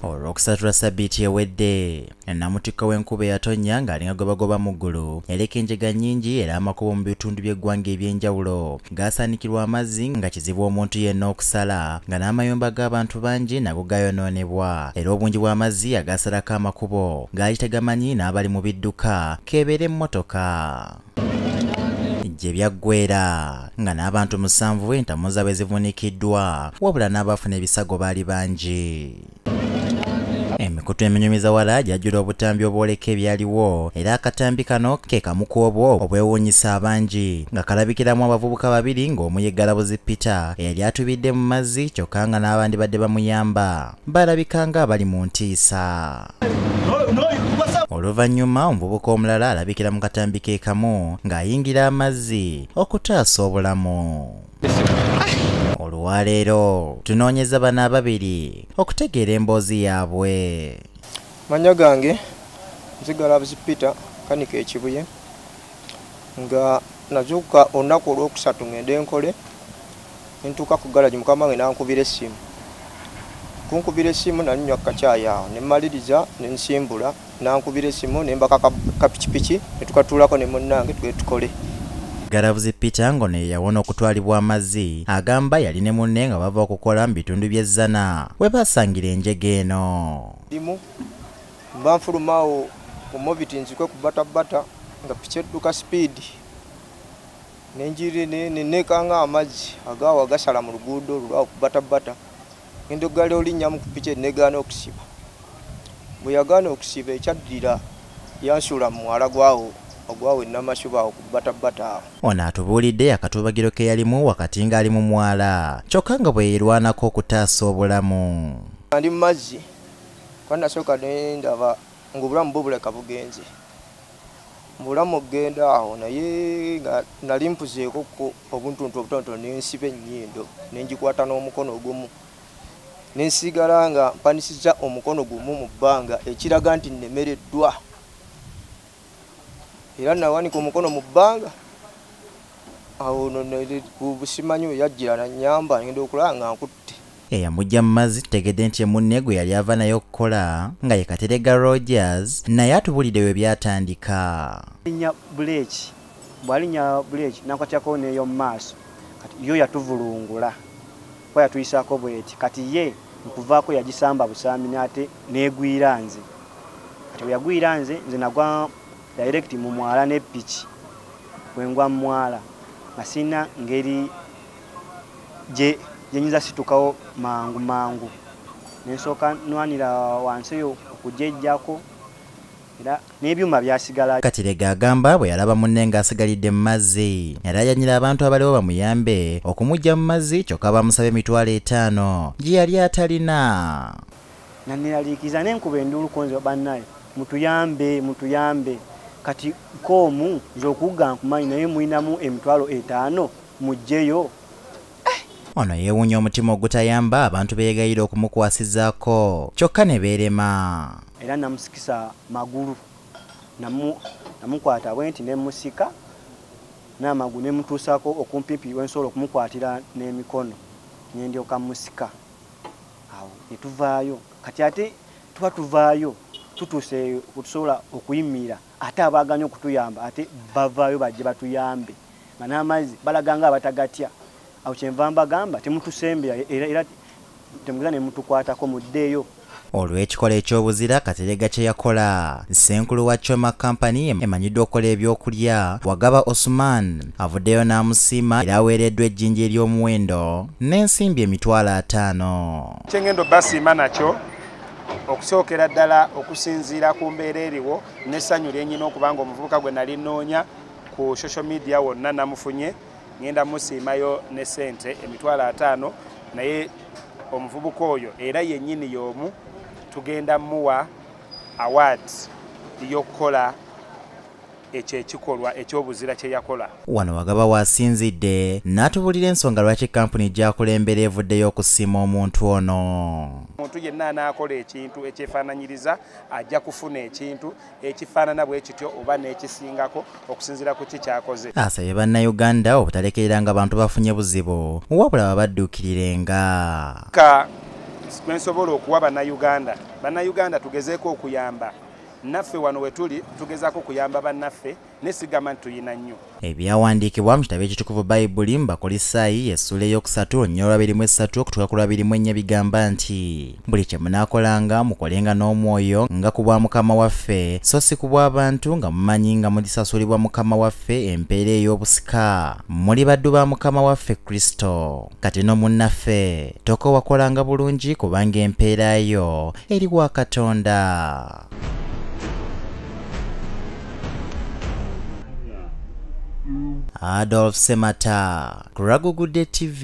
olw'okusatula ssabbiiti ewedde namutikko w'enkuba eyatonnya ng'alinga gwe bagoba mu ggulu yaleka enjega nnyingi era amakubo mu bitundu by'eggwanga eby'enjawulo gaasaanikirwa amazzi nga kizibu omuntu yenna okusala nga n'amayumba g'abantu bangi nago gayonoonebwa era obungi bw'amazzi agaasalako amakubo gaali tegamanyi n'abali mu bidduka keebeera emmotoka gye byaggweera nga n'abantu musanvu entamu zaabwe zivunikiddwa wabula n'abaafuna ebisago baali bangi emikutu eminyumiza wala gyajjula obutambi obwoleka ebyaliwo era akatambi kano ke kamu ku obwo obwewuunyisa abangi nga kalabikiramu abavubuka babiri ng'omu ye galabuzi peter eyali atubidde mu mazzi kyokka nga n'abandi badde bamuyamba balabika nga abali mu ntiisa oluvannyuma omuvubuka omulala alabikira mu katambi ke kamu ng'ayingira amazzi okutaasa obulamu olwaleero tunoonyeza bano ababiri okutegeera emboozi yaabwe manya gange nzigala buzi peter kanika ekibuye nga nazuuka olunaku olwokusatu ngende nkole Nentuuka ku garage mukama wange nankubira essimu. Kunkubira essimu nali nywa kacaayi awo ne mmaliriza ne nsimbula nankubira essimu ne mbaka kapikipiki ne tukatuulako ne munnange tugende tukole. Galabuzi Peter ng'ono ye yawona okutwalibwa amazzi agamba yali ne munne nga bava okukola mu bitundu by'e Zzana we baasangira enjega eno. Limu mba nfulumaawo mu moviti nzikwe ku batabata nga piki edduka sipiidi. nenjiri nenekanga amazzi agawa gasala mu luguudo olulwa okubatabata ngenda okugala olinnya mu kupiki enegaana okusiba bwe yagaana okusiba ekyaddira yansuula mu mwala gwawo ogwawo enamashuba awo kubatabata awo ono atubuulidde akatubagiro ke yalimu wakati ng'ali mu mwala kyokka nga bwe yeerwanako okutaasa obulamu ndi mu mazzi kwanasooka nendaba ng'obulamu bubuleka bugenze mbulamu okugenda awo naye nga nali mpuzeeko ko obuntuntu obutonotono nensiba ennyindo nengikwata n'omukono ogumu nensigala nga mpanisiza omukono gumu mu bbanga ekiraga nti nnemereddwa era nawanika omukono mu bbanga awo no busimanyi weyajjira nanyamba ngenda okulaba nga nkutte eyamujja mu mazzi tutegedde nti emunne gwe yali ava naye okukola nga ye katerega rogers naye atubulidde we byatandika linya buleeki bwalinya buleeki nakwatyakowo neeyo mu maaso kati yo yatuvulungula kuba yatuyisaako bweti kati ye nkuvaako yagisamba busambi naate neegwira nze kati bwe yagwira nze nze nagwa direct mu mwala ne piki bwe ngwa mu mwala nga sirina ngeri gye nyinza situkawo mangu mangu nensooka nwanira wansi eyo okugyejjako era n'ebyuma byasigala. Katerega agamba bwe yalaba munne ng'asigalidde mu mazzi yalaajanyira abantu abaliwo bamuyambe okumuggya mu mazzi kyokka baamusaba emitwalo etaano gye yali atalina. Nanneeraliikiriza ne nkuba enduulu ku nze bannaye mutuyambe mutuyambe kati koomu nze okugga nkumanyi naye mulinamu emitwalo etaano mujjeyo ono yeewunya omutima ogutayamba abantu beyegayira okumukwasizaako kyokka ne beerema era namusikisa magulu namukwata bwe nti nemusika n'amagulu nemutuusaako okumpimpi wensobola okumukwatira n'emikono nendyoka musika awo netuvaayo kati ate tuba tuvaayo tutuuse wetusobola okuyimirira ate abaaganya okutuyamba ate bavaayo bajje batuyambe nga n'amazzi balaga nga abatagatya awo kyenva mbagamba temutusembera era temugeza ne mutukwatako muddeeyo olw'ekikola eky'obuzira katerega kye yakola ssenkulu wa choma company emanyiddwa okukola ebyokulya wagaba osuman avuddeyo n'amusiima era aweereddwa ejjinja ery'omuwendo n'ensimbi emitwalo ataano kyengendo basiima nakyo okusookera ddala okusinziira ku mbeera eriwo n'essanyu lyenyina okubanga omuvubuka gwe nali nnoonya ku social media wonna namufunye ngenda musiimayo ne sente emitwalo ataano naye omuvubuka oyo era yennyini y'omu tugenda muwa award y'okukola ekyo ekikolwa ekyobuzira kye yakola wano wagaba wasinzidde n'atubulira ensonga lwaki kampuni gyakulembera evuddeyo okusiima omuntu ono omuntu yenna anaakola ekintu ekyefaananyiriza ajja kufuna ekintu ekifaanana bwe kityo oba n'ekisingako okusinziira ku ki kyakoze asabye bannayuganda obutalekereranga bantu bafunye buzibu wabula babadduukirirenga ka kwensobola okuwa bannayuganda bannayuganda tugezeeko okuyamba naffe wano we tuli tugezaako okuyamba bannaffe naye sigamba nti tulina nnyo ebyawandiikibwa mu kitabo ekitukuvu bayibuli mu bakolisaayi essuula ey'okusatu olunya olwa birimu essatu okutuuka ku lwa birimu ennya bigamba nti buli kye munaakolanga mukolenga n'omwoyo nga ku bwa mukama waffe so si ku bw'abantu nga mumanyi nga mugisasulibwa mukama waffe empeera ey'obusika muli baddu ba mukama waffe kristo kati no munnaffe tokowakolanga bulungi kubanga empeera yo eri wa katonda Adolf Semata, Kuragugudde TV.